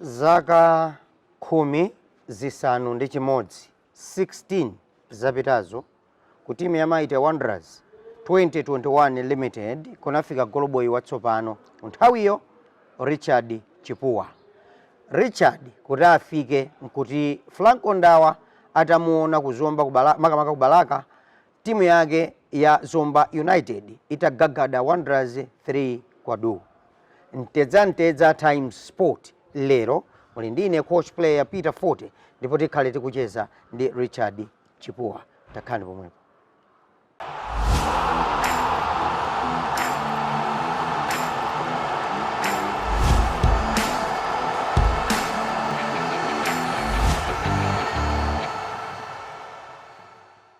Zaka khumi, zisanu ndi chimodzi. 16 zapitazo ku timu ya Mighty Wanderers 2021 Limited kunafika goloboyi watsopano nthawiyo Richard Chipuwa. Richard kuti afike nkuti Franco Ndawa atamuona ku Zomba, kubala, makamaka ku Balaka Timu yake ya Zomba United itagagada Wanderers 3 kwa du. Mtedza Mtedza Times Sport lero muli ndi ine coach player Peter Fote ndipo tikhale tikucheza ndi Richard Chipuwa. Takhalani pomwepo.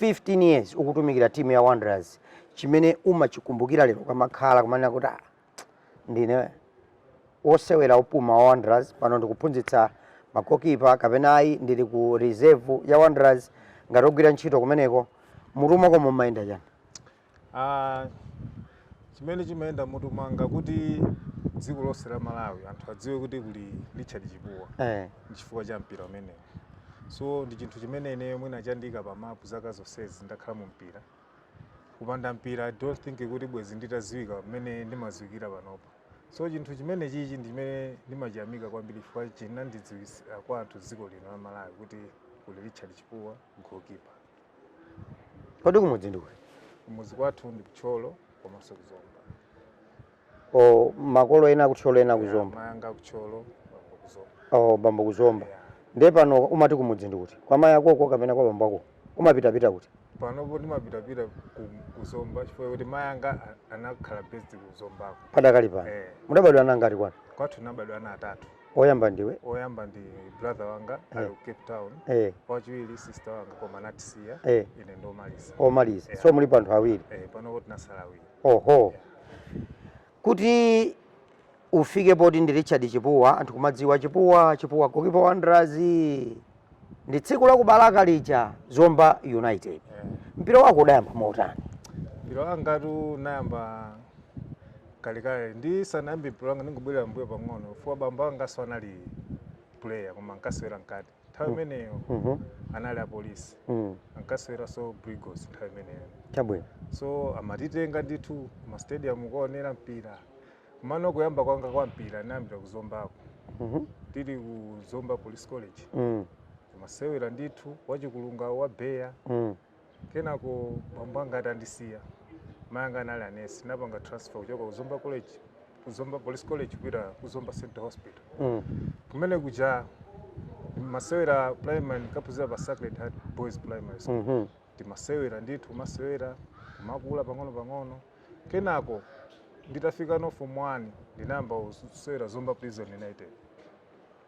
15 years ukutumikira team ya Wanderers chimene umachikumbukira lero ukamakhala kumanena kuti ah, ndine wosewera opuma wa Wanderers pano ndikuphunzitsa magokipa kapena ayi ndili ku reserve ya Wanderers ngati ogwira ntchito kumeneko mmutu mwakomo mumayenda chani Aaa chimene chimayenda mmutu mwanga kuti dziko lonse la Malawi anthu adziwe kuti kuli Richard Chipuwa eh. nchifukwa cha mpira umenewu so ndi chinthu chimene ineyo mwina chandiika pa mapu zaka zonsezi ndakhala mu mpira kupanda mpira I don't think kuti bwezi nditadziwika mmene ndimadziwikira panopa so chinthu chimene chichi ndi chimene ndimachiyamika kwambiri chifukwa chinandidziwitsa kwa anthu dziko lino la Malawi kuti kuli Richard Chipuwa goalkeeper kodi kumudzi ndi kuti kumuzi kwathu ndi ku Thyolo komanso ku Zomba o makolo ena aku Thyolo ena aku Zomba mayanga ku Thyolo bambo ku Zomba o bambo ku Zomba Yeah. ndiye pano umati kumudzi ndi kuti kwa mayi akoko kapena kwa bambo ako umapitapita kuti panopo ndimapitapita ku- ku Zomba chifukwa kuti mayanga a- anakhala based ku Zombako padakali pano Eh. mudabadwa ana angati kwanu kwathu nabadwa ana atatu oyamba ndiwe oyamba ndi brother wanga eh. ali ku Cape Town eh. wachiwiri sister wanga koma anatisiya eh. ine ndi omaliza omaliza yeah. so muli pa anthu awiri eh, panopo tinasala awiri oho yeah. kuti ufike poti ndi Richard Chipuwa anthu kumadziwa Chipuwa Chipuwa gokipa wa Wanderers ndi tsiku la ku Balaka lija Zomba United Eh. mpira wako udayamba motani mpira wangatu nayamba kalekale ndisanayambe mpira wanga ndingobwerera mbuyo pang'ono chifukwa bambo angaso anali player koma ankasewera mkati nthawi imeneyo Mhm. anali apolisi Mm. ankaseweraso brigos nthawi imeneyo chabwino so amatitenga ndithu mastadium kuonera mpira Komano kuyamba kwanga kwa mpira ndinayambira ku Zombako. Mhm. Tili ku Zomba Police College. Mm. Timasewera ndithu wachikulunga wa Beya. Mm. Kenako bambo anga atandisiya. Mayi anga anali anesi anapanga transfer kuchoka ku Zomba College ku Zomba Police College kupita ku Zomba Central Hospital. Mm. Kumene kuja ndimasewera primary ndinkaphunzira pa Sacred Heart Boys Primary School. Mhm. Timasewera ndithu kumasewera kumakula pang'ono pang'ono. Kenako nditafikano form 1 ndinayamba kusewera Zomba Prison United.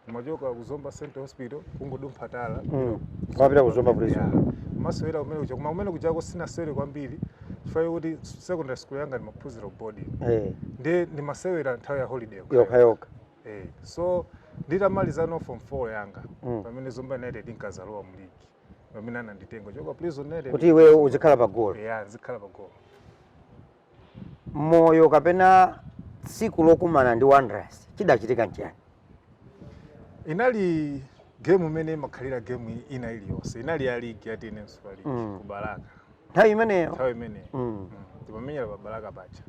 Ndimachoka ku Zomba Central Hospital kungodumpha tala. Mm. Kumapita ku Zomba Prison. Kumasewera kumene kuja kumene kujako sinasewere kwambiri chifukwa kuti secondary school yanga ndimaphunzira ku boarding. Eh. Ndiye ndimasewera nthawi ya holiday. Yokha yokha. Eh. So nditamalizano form 4 yanga mm. pamene Zomba United inkazalowa mu league. pamene ananditenga kuchoka Prison United kuti iwe uzikhala pa golo ya uzikhala pa golo moyo kapena tsiku lokumana ndi wanderers chidachitika nchiyani inali game imene imakhalira game ina iliyonse inali ya ligi ya tnm super league mm. ku Balaka nthawi imeneyo nthawi imeneyo mm. mm. timamenyera pa Balaka paja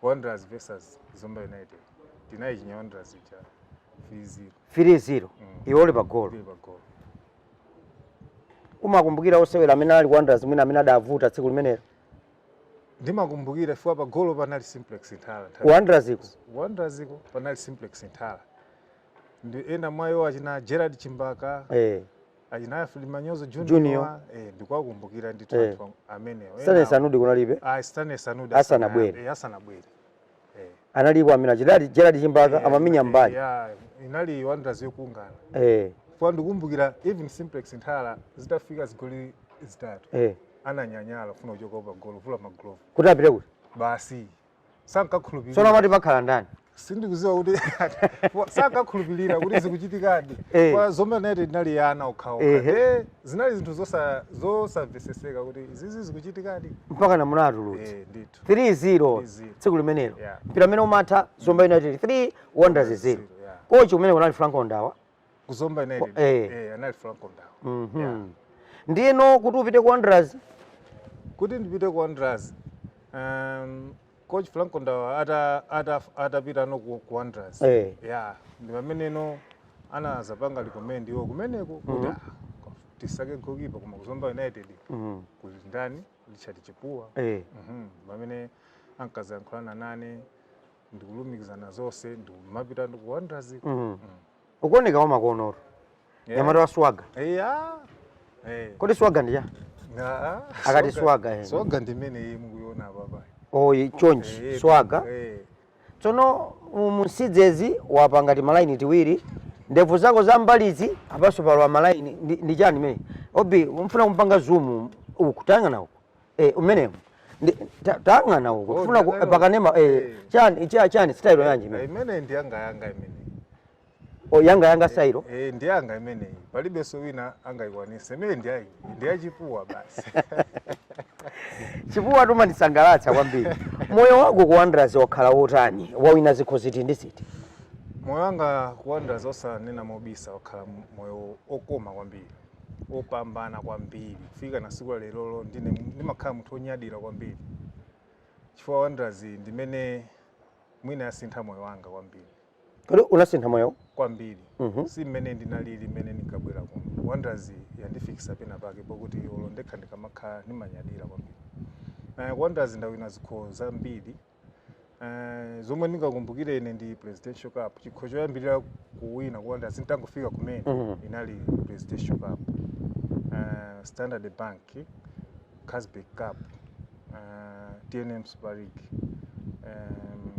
Wanderers versus Zomba United. Tinayichinya Wanderers ija 3-0. 3-0. Mm. Iwe uli pa goal. Uli pa goal. Umakumbukira osewera amene anali ku Wanderers mwina amene anavuta tsiku limenelo. Ndimakumbukira chifukwa pa goal panali Simplex Nthala. Wanderers uko. Wanderers uko panali Simplex Nthala. Ndi ena mwayo achina Gerard Chimbaka. Eh. achina Alfred Manyozo Junior. Junior eh ndikuwakumbukira Eh. ndithu anthu am- amenewo. Stanley Enawo- Sanudi kunalibe Ah, Stanley Sanudi Asanabwere. asana- eh, asanabwere. Eh. analipo amene achina Gerald Chimbaka Eh, amamenya eh, mbali yeah, inali Wanderers yokwana. eh Chifukwa ndikukumbukira even Simplex Nthala zitafika zigoli zitatu. eh Ananyanyala kufuna kuchoka pa golo kuvula maglovu. kuti apite kuti Basi sankakhulupirira tsono amati pakhala ndani sindikuziwa kuti sankakhulupirira kuti zikuchitikadi eh. kwa zomba united inali ya ana okhaokha eh, zinali zinthu zosamveseseka kuti izizi zikuchitikadi mpaka namuna atulutsa eh, 3-0 tsiku limenelo yeah. mpira umene umatha zomba united 3 wanderers 0 yeah. kochi kumene kunali franco ndawa ku Zomba United Kwa- eh. eh anali Franco Ndawa Mhm. Yeah. ndiyeno kuti upite ku wanderers kuti ndipite ku Wanderers um, coach Franco Ndawa ata ata atapitano ku, ku Wanderers Eh. yeah ndi pameneno anazapanga recommend iwo kumeneko kuti ah, tisake goalkeeper koma ku Zomba United Mhm. kuli ndani Richard Chipuwa Eh. Mhm. pamene ankazayankhulana nane ndikulumikizana zonse ndikumapita ku Wanderers Mhm. ukuoneka wamakonotu Yeah. nyamata wa swaga eya eh kodi swaga ndi chani Akati swaga, eh. swaga ndimene iyi mukuiona papa oyi chonchi Eh, swaga eh tsono munsidzezi wapanga timalaini tiwiri ndevu zako za mbalizi apanso palowa malaini ndi ndi chani mene obi umfuna kumpanga zumu uku tayang'ana uku Eh, umenewo Ndi- ta- tayang'ana uko Oh, tifuna ku- ndakaiona. pakanema eh, Eh. chani cha- chani sitayilo yanji imene ndi yanga yanga imene O, yanga yanga sitayilo Eh, ndi yanga imeneyi palibenso wina angayikwanise imene ndi yayi ndi ya Chipuwa basi chipuwa umandisangalatsa kwambiri moyo wako ku wanderers wakhala wotani wawina zikho ziti ndi ziti moyo wanga ku wanderers osanena mobisa wakhala m- moyo okoma kwambiri opambana kwambiri kufika na siku la lerolo ndimakhala munthu onyadira kwambiri chifukwa wanderers ndimene mwina yasintha moyo wanga kwambiri kodi unasintha moyo kwambiri Mhm. si mmene ndinalili mmene ndinkabwera kuno wanderers yandifikisa pena pake pokuti olo ndekha ndikamakhala ndimanyadira kwambiri ku wanderers ndawina zikho zambiri Eh, zomwe ndingakumbukire ine ndi presidential cup chikho choyambirira kuwina ku wanderers nditangofika kumene Mhm. inali presidential cup Eh, standard bank carlsberg cup eh, tnm super league Em,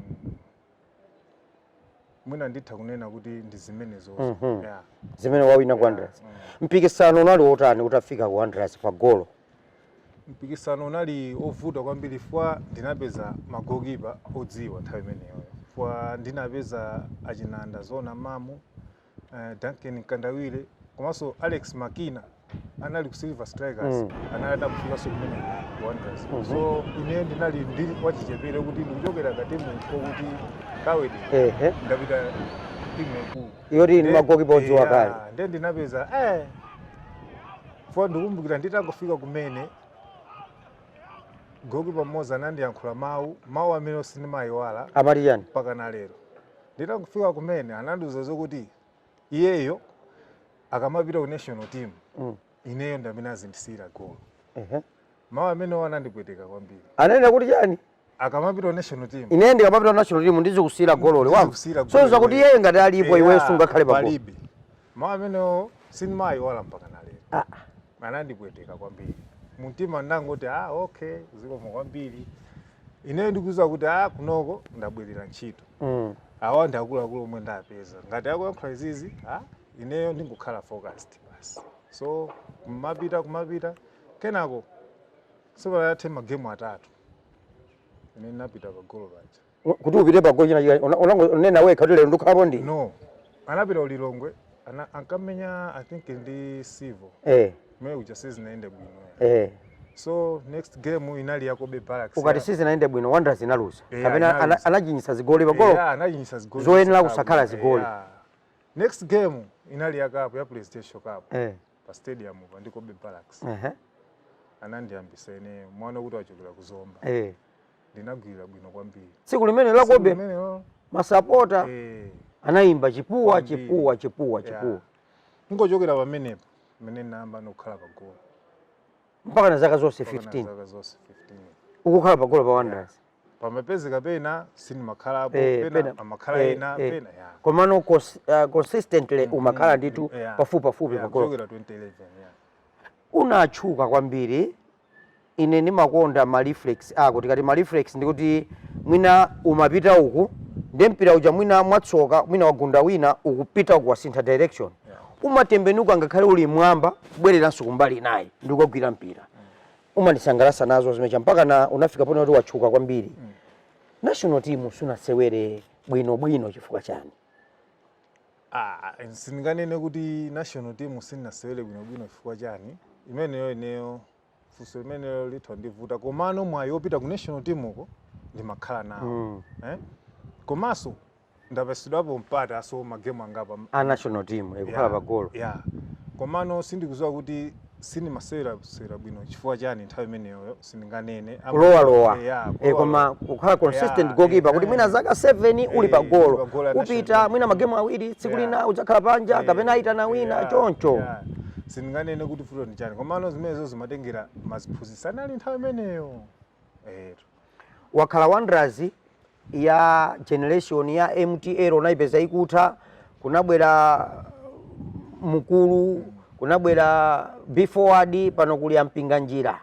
mwina nditha kunena kuti ndi zimenezo Mhm. yeah. zimene wawina ku Yeah, wanderers mm. mpikisano unali wotani utafika ku wanderers pa golo Mpikisano unali ovuta kwambiri chifukwa ndinapeza ma goalkeeper odziwa nthawi imeneyoyo chifukwa ndinapeza achina Ndaziona Mamu, eh, Duncan Mkandawire komanso Alex Makina anali ku Silver Strikers mm. anali atakufikanso kumene ku Wanderers mm -hmm. so ine ndinali ndili wachichepere kuti ndikuchokera ka timu kokuti kawedi eh, eh. ndapita timu yaikulu yoti ndi magokipa odziwa kale nde ndinapeza eh Chifukwa ndikumbukira nditangofika kumene, goalkeeper mmodzi anandiyankhula mawu, mawu amene sindimayiwala Amati chani? mpaka na lero. Nditangofika kumene anandiuza zokuti iyeyo akamapita ku national team Mm. ineyo ndi amene azindisiyira golo. Ehe. Mawu amenewa anandipweteka kwambiri. Ananena kuti chani? akamapita national team ine ndikamapita national team ndizikusiyira gololo wamva so zokuti iyeyo ngati alipo iweyo sungakhale pa palibe mawu amenewo sindimayiwala mpaka na lero ah. anandipweteka kwambiri mumtima ndangoti a ah, okay zikomo kwambiri ineyo ndikuza kuti a ah, kunoko ndabwerera ntchito mm. awa ndi akuluakulu omwe ndapeza ngati akuyankhula izizi a ineyo ndingokhala focused basi so kumapita kumapita kenako sipanathe magemu atatu Ine ndinapita pa golo paja. U- kuti upite pa golo china chika una- unango- unena wekha kuti lero ndikhalapo ndi No. Anapita ku Lilongwe ana ankamenya I think ndi Civo. eh Mwe uja sizinaende bwino. eh So next game inali ya Cobbe Barracks. ukati sizinaende bwino wanderers inaluza Yeah, kapena ana- inaluza. unachinyitsa zigoli pa golo Yeah, anachinyitsa zigoli. Zoyenera zitatu. kusakhala zigoli. Yeah. Next game inali ya cup ya PlayStation Cup. eh pa stadium pa ndi Cobbe Barracks ehe anandiyambisa ine mwana kuti wachokera ku Zomba eh ndinagwira bwino kwambiri tsiku limene la Cobbe Limenelo, masapota eh anayimba chipuwa Kwambiri. chipuwa chipuwa Yeah. chipuwa ndiye kuchokera pamenepo mmene ndinayamba nokhala pa golo mpaka na zaka zonse mpaka na 15 zaka zonse 15 ukukhala pa golo pa wanderers pamapezeka pena sindimakhalapo Eh, pena pena- amakhala eh, ena eh. pena ya komano cons- ah, consistently umakhala ndithu Yeah. pafupipafupi Yeah, pa golo kuchokera 2011 yeah. unatchuka kwambiri ine ndimakonda ma reflex ako tikati ma reflex ndikuti mwina umapita uku ndi mpira uja mwina mwatsoka mwina wagunda wina ukupita uku wasintha direction umatembenuka ngakhale uli m'mwamba kubwereranso kumbali inayi ndikukagwira mpira umandisangalatsa nazo zimezija mpaka na unafika poti watchuka kwambiri mm. national team sunasewere bwino bwino chifukwa chani ah sindinganene kuti national team sindinasewere bwino bwino chifukwa chani imeneyo ineyo funso limenelo litha kundivuta komano mwayi wopita ku national team uko ndimakhala nawo mm. eh? komanso ndapatsidwapo mpata so ma game angapo a national team eh, kukhala yeah, pa golo yeah. komano sindikudziwa kuti sindimasewera sewera bwino chifukwa chani nthawi imeneyoyo sindinganene Am- kulowa lowa yeah, eh, kulowa lowa. koma kukhala consistent Yeah, goalkeeper kuti eh, mwina zaka 7 eh, uli pa uli golo pa golo la national upita team. mwina magemu awiri tsiku Yeah. lina udzakhala panja Eh, kapena ayitana wina yeah, choncho yeah. sindinganene kuti vuto ndi chani komano zimenezo zimatengera aziphunzitsi anali nthawi imeneyo eto Wakhala Wanderers ya generation ya MTL unaipeza ikutha kunabwera Mukuru kunabwera Be Forward pano kuli a Mpinganjira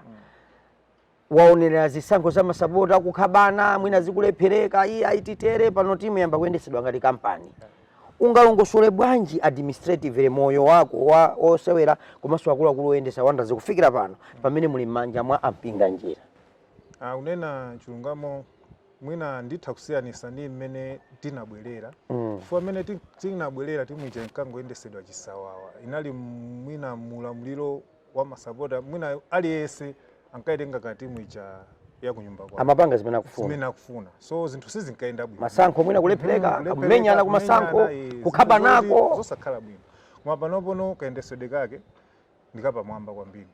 waonerera zisankho za masapota akukhapana mwina zikulephereka iyayi titere pano timu yayamba kuyendetsedwa ngati kampani ungalongosole bwanji administratively moyo wako wa osewera komanso akuluakulu oyendetsa Wanderers kufikira pano pamene muli m'manja mwa a Mpinganjira Ah, kunena chilungamo mwina nditha kusiyanitsa ndi mmene tinabwerera mm. chifukwa mmene tinabwerera timu ija inkangoyendetsedwa chisawawa inali mwina mu ulamuliro wa masapota mwina aliyense ankaitenga ka timu ija ya kunyumba kwawo amapanga zimene akufuna zimene akufuna so zinthu sizinkayenda bwino masankho mwina kulephereka mm-hmm. kumenyana ku masankho kukhapanako zosakhala bwino koma panopono kayendetsedwe kake ndikapamwamba kwambiri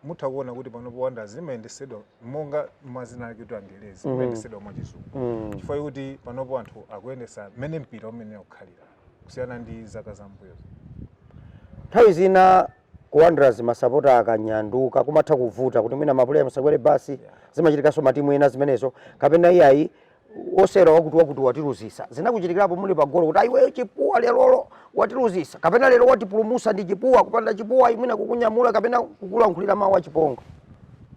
mutha kuona kuti panopo wanderers imayendesedwa monga mwa dzina lake kuti angelezi mm. imayendesedwa mwachizungu mm. chifukwa chikuti panopo anthu akuyendesa mmene mpira umene umakhalira kusiyana ndi zaka zambuyozo nthawi zina ku wanderers masapota akanyanduka kumatha kuvuta kuti mwina mapuleya musakwere basi yeah. zimachitikanso matimu ena zimenezo kapena iyayi wosewera wakuti wakuti watiluzisa zinakuchitikirapo muli pa golo kuti a iweyo chipuwa lerolo watiluzisa kapena lero watipulumusa ndi chipuwa kupanda chipuwa mwina kukunyamula kapena kukulankhulira mawu achipongwe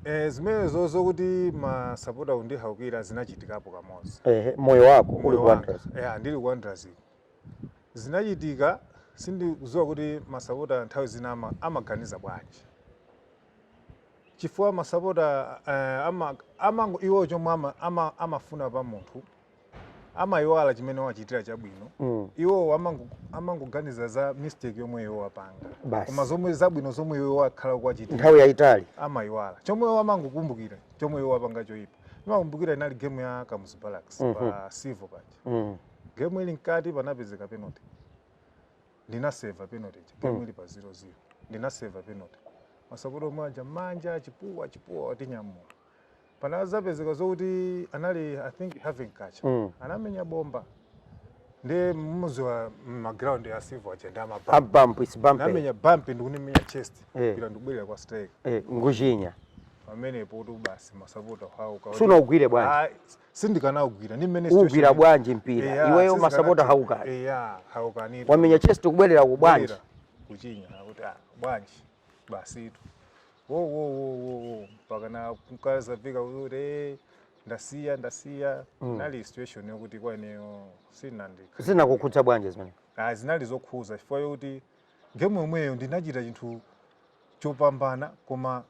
Eh, zimenezo zokuti masapota kundihaukira zinachitikapo kamodzi ehe moyo wako uli Moyo wanga. ku Wanderers Yeah, ndili ku Wanderers iko. zinachitika sindikudziwa kuti masapota nthawi zina ama- amaganiza bwanji chifukwa masapota eh, ama, amango iwo chomwe ama, ama, amafuna pa munthu amayiwala chimene wachitira chabwino mm. iwo amango- amangoganiza za mistake yomwe iwe wapanga Basi. koma zomwe zabwino zomwe iwe wakhala ukuwachitira nthawi yayitali amayiwala chomwe iwo amangokumbukira chomwe iwe wapanga choyipa ndimakumbukira inali game ya kamuzu barracks pa silver paja mm. game ili mkati panapezeka penalty ndinaseva penalty ija game ili pa 0-0 ndinaseva penalty masapota omwe aja manja chipuwa chipuwa watinyamula panazapezeka zokuti anali i think having catch Mm. anamenya bomba ndi mmodzi wa maground ya silver aja ndi a mabampu a bampu its bumpy unamenya bampu ndikundimenya chest Eh. mpira ndikubwerera kwa striker eh, nkuchinya pamenepotu basi masapota kuhauka sunaugwire bwanji Ah, sindikanaugwira ndi mmene ugwira situation- bwanji mpira Eya, iweyo sizikana- masapota haukani Eya, haukani wamenya chest ndikubwerera ku bwanji Kubwerera, kuchinya kuti ah, bwanji basitu wo wo wo wo wo mpaka ndinakafika kuti "Eh, ndasiya ndasiya inali situation yokuti kwa ineyo sinandika zinakukhudza bwanji zimene Ah, zinali zokhuza chifukwa chokuti ndi gemu yomweyo ndinachita chinthu chopambana koma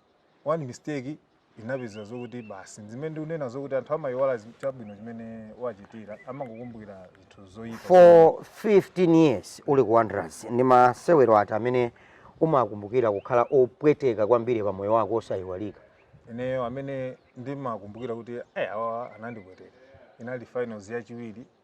one mistake inapezeka zokuti basi zimene ndikunena zokuti anthu amayiwala zi- chabwino chimene wachitira amangokumbukira zinthu zoyipa for 15 years uli ku wanderers ndi masewero ati amene umakumbukira kukhala opweteka kwambiri pa moyo wako osayiwalika ineyo amene ndimakumbukira kuti eh, awa anandipweteka inali finals yachiwiri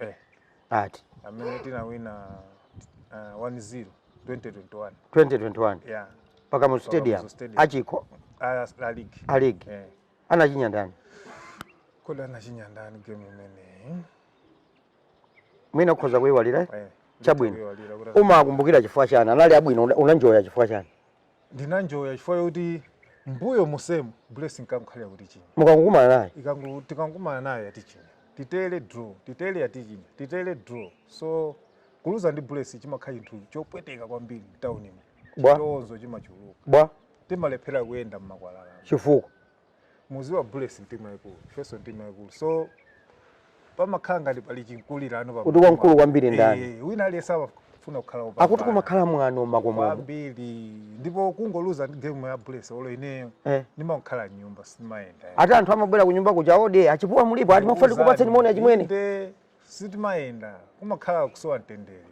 Eh. ati amene tinawina uh, 1-0 2021 2021 yeah pa Kamuzu stadium Pa Kamuzu Stadium. achikho Ah, la league a league eh anachinya ndani kodi anachinya ndani game imene mwina ukhoza kuyiwalira eh Chabwino. ndikuiwalira kuti- umakumbukira chifukwa chani anali abwino una- unanjoya chifukwa chani ndinanjoya chifukwa choti mbuyo musemu Bullets inkangokhalira kutichinya mukangokumana naye ikangu tikangokumana nayo yatichinya titere draw titere yatichinya titere draw so kuluza ndi Bullets chimakhala chinthu chopweteka kwambiri mtaunimo Bwa. chitonzo chimachuluka bwa timalephera kuyenda mmakwalala chifukwa muziwa Bullets ndi timu yaikulu ifeso ndi timu yaikulu so pamakhala ngati pali chinkulirano pa kuti wamkulu kwambiri ndani eh, wina aliyense amafuna kukhala wopambana akuti kumakhala mwano mmakomo kwambiri ndipo kungoluza game ya Bullets olo ineyo eh. ndimakhala mnyumba simayenda ati anthu amabwera ku nyumba kuja odi a Chipuwa mulipo ati timafuna tikupatseni moni achimwene Sitimayenda kumakhala kusowa mtendere.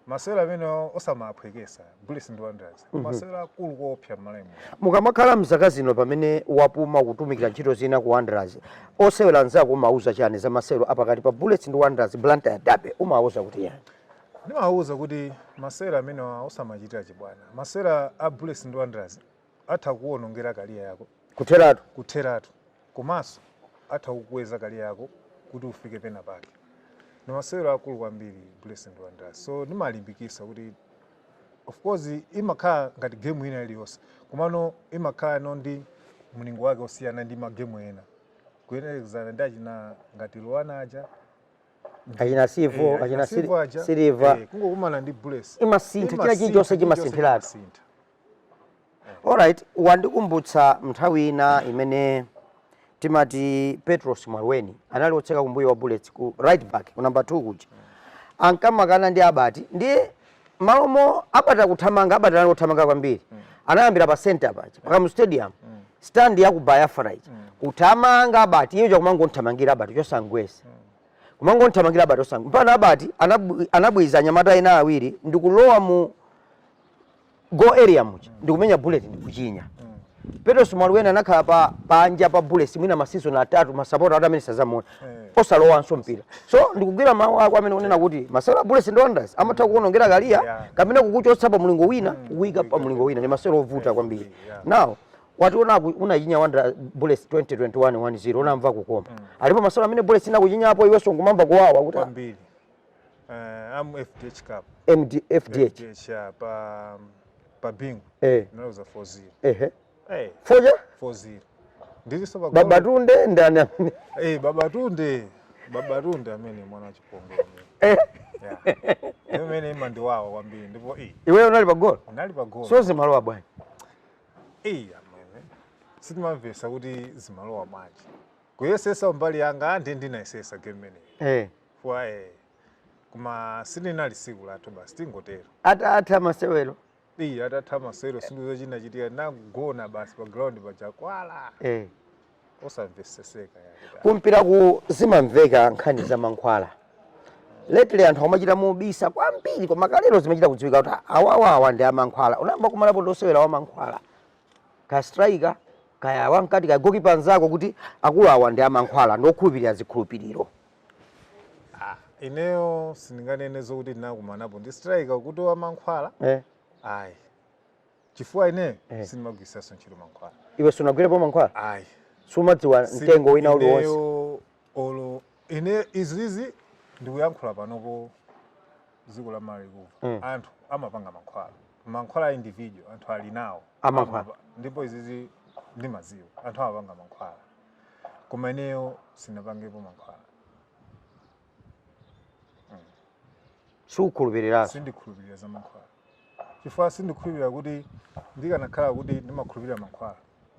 Masewero amenewa osamaphwekesa Bullets ndi Wanderers. Mm -hmm. Masewero akulu koopsa mMalawimo. Mukamakhala mzaka zino pamene wapuma kutumikira ntchito zina ku Wanderers, osewera anzako umauza chani za masewero apakati pa Bullets ndi Wanderers Blantyre Derby umauza kuti yani? Ndimauza kuti masewero amenewa osamachitira chibwana. Masewero a Bullets ndi Wanderers Atha kukuwonongera career yako kutheratu komanso atha kukukweza career yako kuti ufike pena pake. Ndi masewero akulu kwambiri Bullets ndi Wanderers. So ndimalimbikisa kuti of course imakhala ngati game ina iliyonse komano imakhalano ndi mlingo wake osiyana ndi magemu ena kuyerekezana ndi achina ngati Luana aja achina Civo eh, achina Silver aja, Silver eh, kungokumana ndi Bullets imasintha china Imasintha, chilichonse chimasintha. chimasinthiratu Imasintha. Alright, wandikumbutsa mnthawi ina imene timati Petros Mwalweni anali otseka kumbuyo wa Bullets ku right back ku number 2 kuja ankamakana ndi Albert ndiye mmalomo Albert akuthamanga Albert anali othamanga kwambiri mm. anayambira pa center paja mpaka mu stadium mm. stand ya ku Biafra ija mm. kuthamanga Albert iye chakumangomthamangira Albert chosamgwetsa mm. kumangomthamangira Albert osamgwetsa mpaka Albert anabwiza anyamata ena awiri ndikulowa mu goal area muja ndikumenya bullet ndikuchinya Petros Mwalweni anakhala panja pa Bullets mwina masizon atatu masapota ati amene sazamuona osalowanso mpira so ndikugwira mawu ako amene unena kuti masewero a Bullets ndi Wanderers amatha kuonongera career Yeah. kapena kukuchotsa pa mlingo wina kukuika pa mlingo wina ndi masewero ovuta kwambiri yeah. now wati unaku unachinya wanda Bullets 2021 1-0 unamva kukoma alipo masewero amene Bullets inakuchinyapo iwenso nkumamva kuwawa kuti ah, Kwambiri. Uh, um FDH Cup. MD, FDH. FDH uh, pa um, pa Bingu. Eh. Tinaluza 4-0. Ehe. Eh. 4 ija? 4-0. Ndiliso pa Babatunde ndani amene? Eh, Babatunde. Babatunde amene mwana wa chipongwe. Eh. Yeah. Imene imandiwawa kwambiri ndipo eh. Iwe unali pa goal? Unali pa goal. So zimalowa bwanji. Eh, amene. Sitimamvesa kuti zimalowa bwanji. Kuyesesa mbali yanga ndi ndinayesesa game imeneyi. Eh. Fua eh. Koma silinali tsiku lathu basi tingotero. Atatha masewero. Iyi atatha masewero sindidziwa china chitika nagona basi pa ground pa Chakwala. Eh. Osamvetsetseka ya. Kumpira kuno zimamveka nkhani za mankhwala. Lately anthu amachita mobisa kwambiri koma kalero zimachita kudziwika kuti awawawa ndi amankhwala. Unayamba wakumanapo ndi osewera wa mankhwala. Kaya striker kaya wapakati kaya goalkeeper nzako kuti akulu awa ndi amankhwala ndi okhulupirira zikhulupiriro. Ah, ineyo sindinganene zokuti ndinakumanapo ndi striker kuti wa mankhwala eh. ayi chifukwa ineyo eh. sindimagwiritsanso ntchito mankhwala iwe sunagwirepo mankhwala ayi sumadziwa mtengo wina uliwonse olo ine izizi ndikuyankhula panopo dziko la malawi kuno mm. anthu amapanga mankhwala mankhwala individual anthu ali nawo amankhwala ndipo izizi ndimadziwa anthu amapanga mankhwala koma ineyo sindinapangepo mankhwala sukhulupirira sindikhulupirira za mankhwala chifukwa sindikhulupirira kuti ndikanakhala kuti ndimakhulupirira mankhwala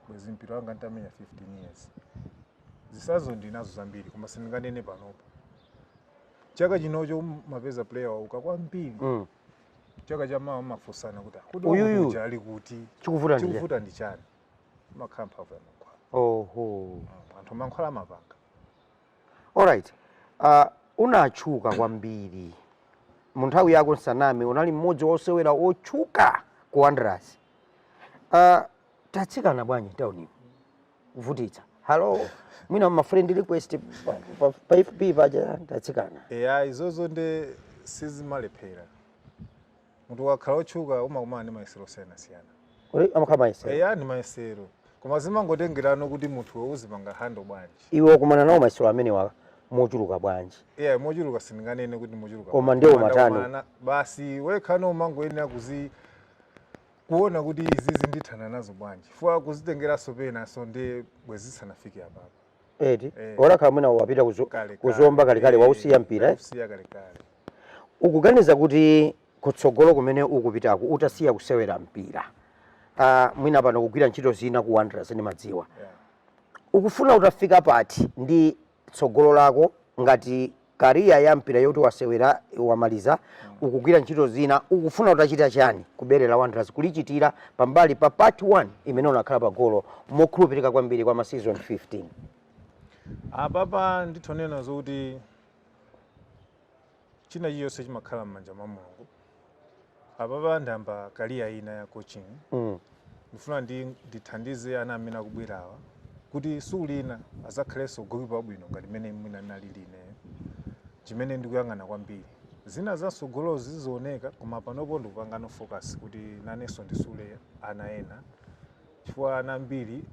bwezi mpira wanga ntamenya 15 years zitsanzo ndinazo zambiri koma sindinganene panopo chaka chinocho umapeza player wauka kwambiri Mm. chaka chamawa mumafunsana kuti "Ah, kuti Uyuyu. wakuja ali kuti Chikuvuta ndi chani?" chikuvuta ndi chani imakhala mphamvu ya mankhwala oho Mm, anthu mankhwala amapanga alright uh, unatchuka kwambiri mu nthawi yako nsaname unali mmodzi wa osewera otchuka ku wanderers uh, tatsikana bwanji tauni kuvutitsa hello mwina ma friend request pa- pa- pa fb paja tatsikana eya izozo nde sizimalephera munthu ukakhala otchuka umakumana ndi mayesero osiyanasiyana Kodi amakhala mayesero eya ndi mayesero koma zimangotengerano kuti munthuwe uzipanga handle bwanji iwe wakumana nawo mayesero amenewa mochuluka bwanji eya mochuluka sindinganene kuti mochuluka Koma bwanji. ndiwo Koma matano. ndakumana na- basi wekha no umangoyenera kuzi kuona kuti izizi ndithana nazo bwanji fuwa kuzitengeranso penanso ndi bwezi zisanafike apapo eti Eh. utakhala mwina wapita kuzo- Kalekale. ku Zomba kalekale Eh, wausiya mpira eh? wausiya kalekale ukuganiza kuti kutsogolo kumene ukupitaku utasiya kusewera mpira ah, mwina pano ukugwira ntchito zina ku wanderers ndimadziwa Yeah. ukufuna utafika pati ndi tsogolo lako ngati Career ya mpira yoti wasewera wamaliza ukugwira ntchito zina ukufuna utachita chani ku bere la Wanderers kulichitira pambali pa part 1 imene unakhala pa golo mokhulupirika kwambiri kwa ma season 15? Apapa nditha kunena zokuti china chilichonse chimakhala m'manja mwa Mulungu. apapa ndiyamba career ina ya coaching mm. ndifuna ndi ndithandize ana amene akubwerawa kuti siku lina azakhalenso gokipa wabwino ngati mmene mwina ndinali ineyo chimene ndikuyang'ana kwambiri zina za mtsogolozi zizioneka koma panopo ndikupangano focus kuti nanenso ndisule ana ena chifukwa ana ambiri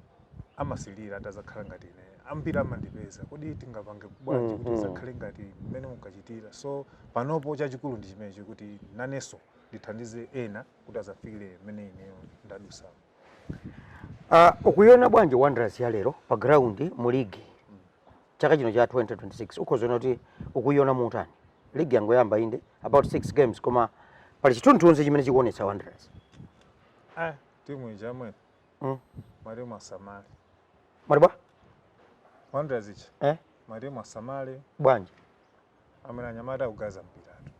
amasilira atazakhala ngati ine ambiri amandipeza kodi tingapange bwanji kuti mm-hmm. tizakhale ngati mmene mukuchitira so panopo chachikulu ndi chimenechi kuti nanenso ndithandize ena kuti azafikire mmene ineyo ndadutsamo uh, ah, ukuiona bwanji wanderers ya lero pa ground mu ligi mm. chaka chino cha 2026 ukhoza kunena kuti ukuiona motani ligi yangoyamba inde about six games koma pali chithunzithunzi chimene chikuonetsa wanderers eh, Timu ija mwe. Mm. Mwali mwasamali. Mwali bwa? Wandra zichi. Eh? Mwali mwasamali. Bwanji. Amena nyamata ugaza mpira tu.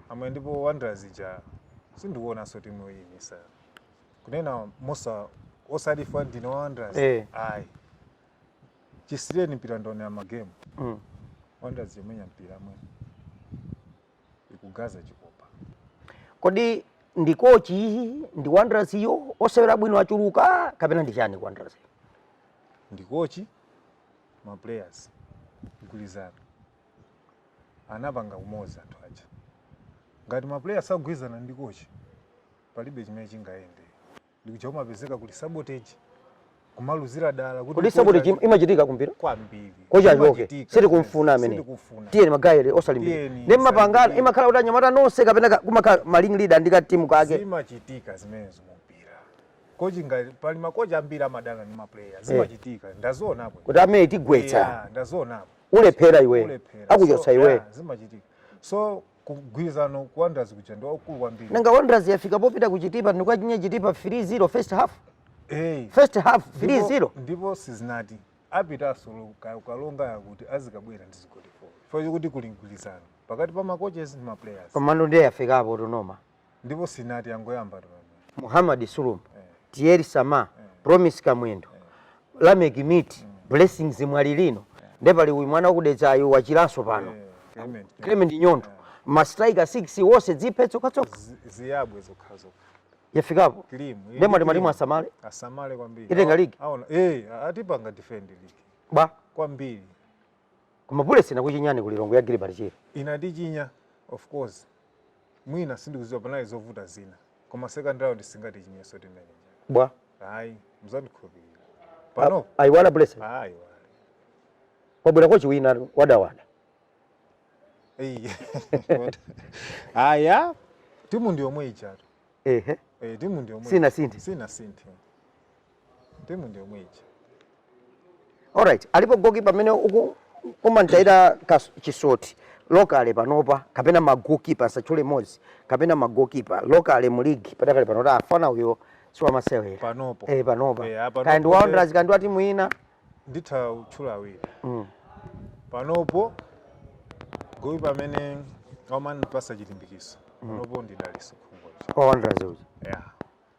Amwe ndipo Wandra zija sindiwona so timu iyi misa. Kunena Musa osati fwa ndino Wandra. Eh. Ai. Chisireni mpira ndone ya magemu. Mm. Wandra zimenya mpira mwe. ikugoza chikopa kodi ndi kochi ndi wanderers iyo osewera bwino achuluka kapena ndi chani ku wanderers ndi kochi ma players mgwirizano anapanga umodzi anthu aja ngati ma players akugwirizana ndi kochi palibe chimene chingayende ndikuti kumapezeka kuli sabotage kumaluzira dala kuti kodi sabotage im- imachitika kumpira kwambiri kochi achoke Imachitika, sitikumfuna yes, amene sitikumfuna. tiyeni mukasewere osalimbira Tiyeni, nde mmapangana musalimbire. imakhala kuti anyamata nonse kapena ka- kumakhala ma ringleader ndi ka timu kake zimachitika zimenezo mumpira kochi ngati pali makochi ambiri amadana ndi maplayer zimachitika ndazionapo kuti amene tigwetsa Yeah, ndazionapo ulephera iwe ulephera akuchotsa So, iwe yeah, zimachitika so mgwirizano ku Wanderers kuja ndi waukulu kwambiri. Nanga Wanderers yafika popita ku Chitipa ndi kuwachinya Chitipa 3-0 first half. Eh. First half 3-0. Ndipo sizinati apita asolo kalonga yakuti azikabwera ndi zigoli 4. Four kuti kuli mgwirizano pakati pa ma coaches ndi ma players. Komano ndiye yafikapo tu no ma. ndipo sinati yangoyamba tu pamene Muhammad Sulumba, eh, Thierry Sama, eh, Promise Kamwendo, eh, Lameck Miti, mm. Blessings Mwalilino, eh. nde pali uyu mwana wakudedzayu wachiranso pano eh, Clement, eh. Clement Nyondo eh. ma striker 6 onse ziphe zokhazokha ziyambe zokhazokha yafikapo Kilimu, eh, nde mwati mwati Kilimu. asamale asamale kwambiri Itenga Awa- ligi? aona eh kuti ipanga defend ligi bwa kwambiri koma Bullets inakuchinyani ku Lilongwe ya Gilbert Chirwa inatichinya of course mwina sindikuziwa panali zovuta zina koma second round singatichinyenso timenya bwa ayi mzandikhulupirira pano ayiwala bullets ayi wabwera kochi wina wadawada aya timu ndi yomwe ijatu ehe eh timu ndi yomwe Sinasinthe. sinasinthe timu ndi yomwe ija alright alipo gokipa amene uku umamtayira chisoti locally panopa kapena magokipa usatchule mmodzi kapena magokipa locally mu ligi padakali pano kuti mfana uyo siwamasewera panopo Eh, panopa Eh, ah, panopo kaya ndi wa wanderers kaya ndi wa timu ina nditha kutchula awiri mm. panopo goalkeeper amene amanipasa chilimbikiso mm. panopo ndi dalitso khungwa uja yeah.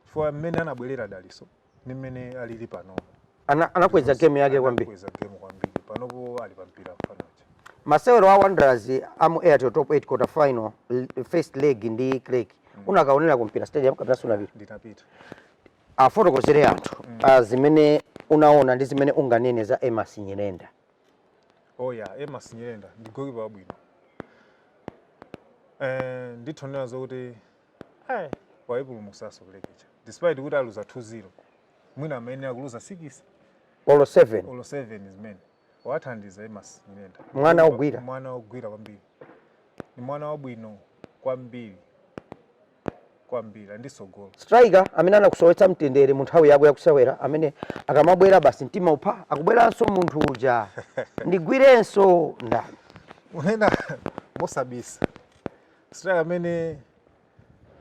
chifukwa mmene anabwerera dalitso ni mmene alili panopo anakweza ana game yake kwambiri anakweza game kwambiri panopo ali pampira mfana uja masewero a wanderers amu airtel top 8 quarter final first leg ndi creck mm. unakaonera kumpira stadium kapena sunapita ndinapita Afotokozere anthu zimene unaona ndi zimene unganene za Emmas Nyirenda. Oh yeah, Emmas Nyirenda ndi goalkeeper wabwino. Eh, nditha kunena zokuti eh waipulumutsanso Creck ija. Despite kuti aluza 2-0. Mwina amayenera kuluza 6 Olo 7 olo 7 zimene. Wathandiza Emmas Nyirenda. Mwana ogwira. Mwana ogwira kwambiri. Ni mwana wabwino kwambiri. kwambiri ndi tsogolo. Striker amene anakusowetsa mtendere mu nthawi yako yakusewera amene akamabwera basi mtima upha akubweranso munthu uja ndigwirenso ndani? Kunena mosabisa striker amene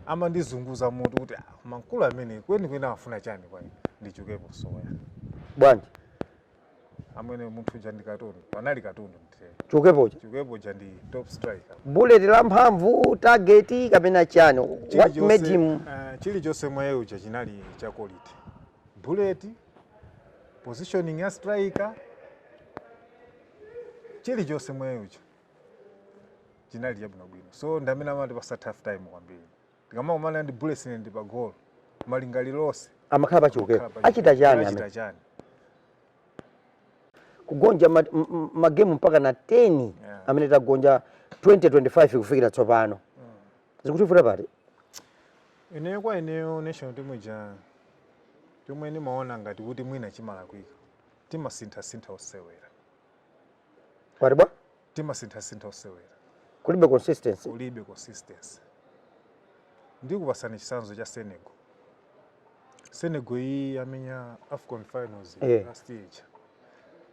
amandizunguza mutu kuti ah, mankulu amene kweni kweni amafuna chani kwa ine ndi Chiukepo Msowoya bwanji amwene munthu uja ndi katundu panali katundu mu chiukepo uja chiukepo uja ndi top striker bullet la mphamvu target kapena chani what made him uh, chilichonse mwa iye uja chinali cha quality bullet positioning ya striker chilichonse mwa iye uja chinali chabwinobwino so ndamene amatipasa tough time kwambiri Ndikamakumana ndi Bullets ine ndili pa goal. Malingaliro onse amakhala pa Chiukepo. amakhala pa Chiukepo. Achita chani amene? Achita chani? Kugonja ma- m- m- magemu mpaka na 10 Yeah. amene tagonja 2025 kufikira tsopano. Zikutivuta pati? Ineyo kwa ineyo national team ija chomwe ndimaona ngati kuti mwina chimalakwika. Timasinthasintha osewera. Wati bwa? timasinthasintha osewera kulibe consistency kulibe consistency ndikupasani chisanzo cha senegal senegal iyi yamenya afcon finals yeah. last year ija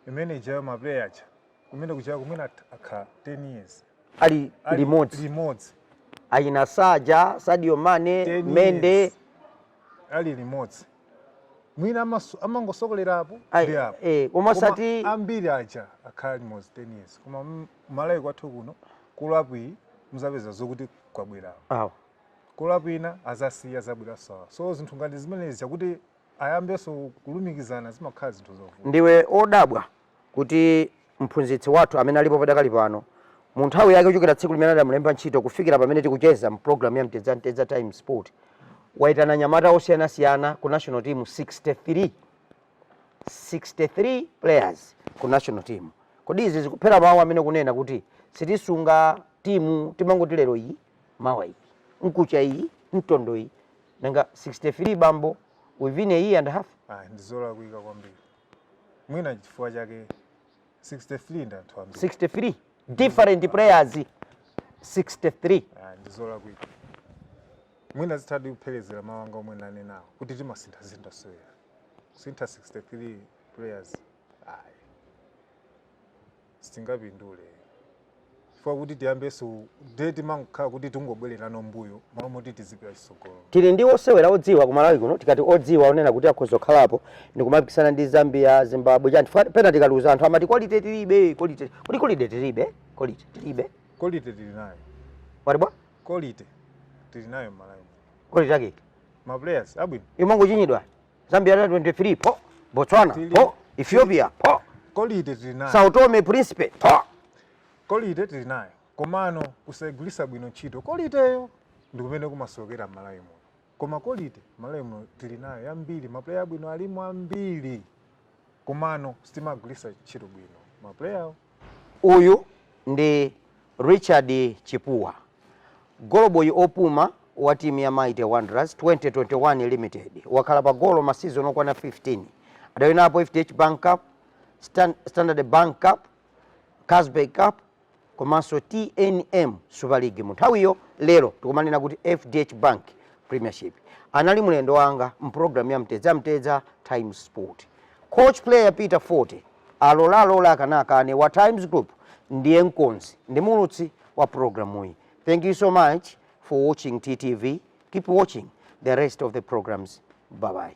imene ijayo maplayer aja kumene kuchaya kumene akhala 10 years ali limodzi limodzi ayina saja sadio mane mendy ali limodzi mwina amaso- amangosokolera apo Ai, ndi apo eh, koma Koma osati ambiri aja akhala limodzi 10 years koma m- malawi kwathu kuno call-up iyi muzapeza zokuti kwabwera awa call-up ina azasiya azabweresa awa so zinthu ngati zimenezi chakuti ayambenso kulumikizana zimakhala zinthu zovuta ndiwe odabwa kuti mphunzitsi wathu amene alipo padakali pano, mu nthawi yake kuchokera tsiku limene adamulemba ntchito kufikira pamene tikucheza mu program ya Mtedza Mtedza Times Sport, waitana anyamata osiyanasiyana ku national team 63. 63 players ku national team. Kodi izi zikuphera mawu amene kunena kuti sitisunga timu timangoti lero iyi mawa iyi nkucha iyi mtondo iyi nanga 63 bambo within a year and a half ah, ndizolakwika kwambiri mwina chifukwa chake 63 ndi anthu ambiri 63 different players 63 Ah, ndi zolakwika mwina zithadi kupherezera mawu anga omwe ndanenawo kuti timasinthasintha osewera kusintha 63 players ayi sitingapindule chifukwa kuti tiyambenso ndiye timangokhala kuti tingobwererano mbuyo malo moti tizipita chitsogolo tili ndi osewera odziwa ku malawi kuno tikati odziwa onena kuti akhoza kukhalapo ndikumapikisana ndi zambia zimbabwe chani chifukwa pena tikaluza anthu amati kolite tilibe kolite kuti kolite tilibe kolite tilibe kolite tili nayo wati bwa kolite tili nayo mmalawi kolite ake maplayers abwino imangochinyidwa Zambia under 23 po, Botswana Tili. po, Ethiopia po, kolite tili nayo Sao Tome Principe po. kolite tili nayo komano kusayigwiritsa bwino ntchito koliteyo ndi kumene kumasokera malawi muno koma kolite malawi muno tili nayo yambiri mapuleya abwino alimo ambiri komano sitimagwiritsa ntchito bwino ma player wo. Uyu ndi Richard Chipuwa, goloboyi opuma wa timu ya Mighty Wanderers 2021 Limited. Wakhala pa golo ma season okwana 15. Adawinapo FDH Bank Cup, Stan- Standard Bank Cup, Carlsberg Cup komanso tnm super league munthawiyo lero tikumanena kuti fdh bank premiership anali mlendo wanga mprogram ya mtedza mtedza times sport coach player peter fote alola alola akana akane wa times group ndiye mkonzi ndi muulutsi wa programuyi thank you so much for watching ttv keep watching the rest of the programs bye bye